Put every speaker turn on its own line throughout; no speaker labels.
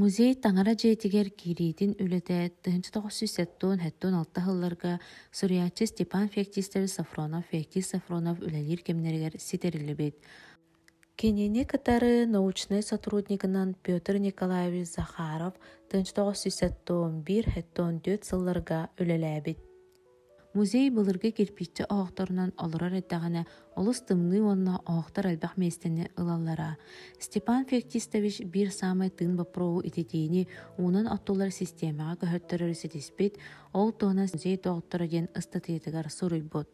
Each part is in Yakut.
Музей таҥара дьиэтигэр киириитин үлэтэ тыһыынча тоҕус сүүс сэттуон сэттуон алта сылларга суруйааччы Степан Феоктистович Софронов Феоктист Софронов үлэлиир кэмнэригэр ситэриллибит. Кинини кытары научнай сотруднигынан Петр Николаевич Захаров тыһыынча тоҕус сүүс сэттуон биир сэттуон түөрт сылларга үлэлээбит Музей былыргы кирпиччэ оһохторунан олорор эрдэҕинэ олус тымныы уонна оһохтор элбэх миэстэни ылаллара. Степан Феоктистович биир саамай тыын боппуруоһу ититиини уунан оттулар систиэмэҕэ көһөртөрөрү ситиспит, ол туһунан музей доҕотторо диэн ыстатыйатыгар суруйбут.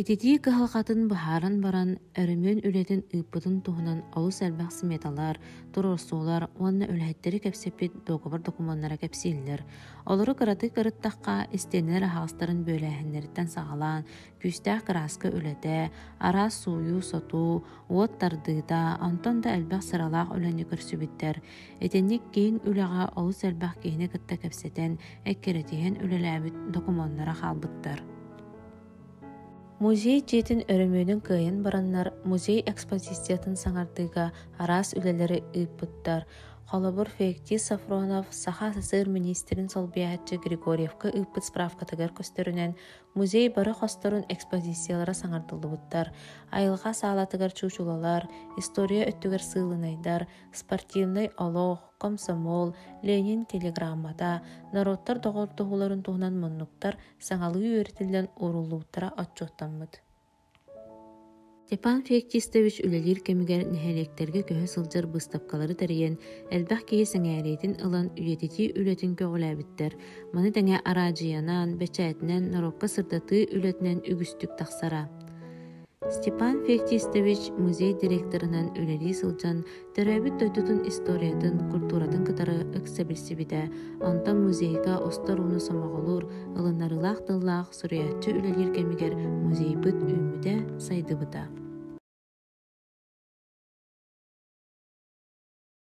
Ититии кыһалҕатын быһааран баран, өрөмүөн үлэтин ыыппытын туһунан олус элбэх сметалар, туруорсуулар уонна үлэһиттэри кэпсэппит договор докумуоннара кэпсииллэр. Олору кыратык ырыттахха, истиэнэлэр аһаҕастарын бүөлээһиннэриттэн саҕалаан, күүстээх кырааска үлэтэ, араас сууйуу-сотуу, уот тардыыта, онтон да элбэх сыралаах үлэни көрсүбүттэр. Итинник киин үлэҕэ олус элбэх киһини кытта кэпсэтэн, эккирэтиһэн үлэлээбит докумуоннара хаалбыттар. Музей дьиэтин өрөмүөнүн кыайан бараннар, музей экспозициятын саҥардыыга араас үлэлэри ыыппыттар. Холобур, Феоктис Сафронов Саха СССР министрин солбуйааччы Григорьевка ыыппыт справкатыгар көстөрүнэн, музей бары хосторун экспозициялара саҥардыллыбыттар айылҕа саалатыгар чуучулалар история өттүгэр сыылынайдар спортивнай олох комсомол ленин телеграммата норуоттар доҕордоһууларын туһунан муннуктар саҥалыы үөрэтиллэн ууруллубуттара отчуоттаммыт Степан Феоктистович үлэлиир кэмигэр нэһилиэктэргэ көһө сылдьар быыстапкалары тэрийэн, элбэх киһи сэҥээриитин ылан, үйэтитии үлэтин көҕүлээбиттэр. Маны тэҥэ араадьыйанан, бэчээтинэн, норуокка сырдатыы үлэтинэн үгүстүк тахсара. Степан Феоктистович музей директорынан үлэлии сылдьан, Төрөөбүт дойдутун историятын, культуратын кытары ыкса билсибитэ, онтон музейга остор ууну сомоҕолуур, ылынарылаах тыллаах суруйааччы үлэлиир кэмигэр музейбыт үүммүтэ, сайдыбыта.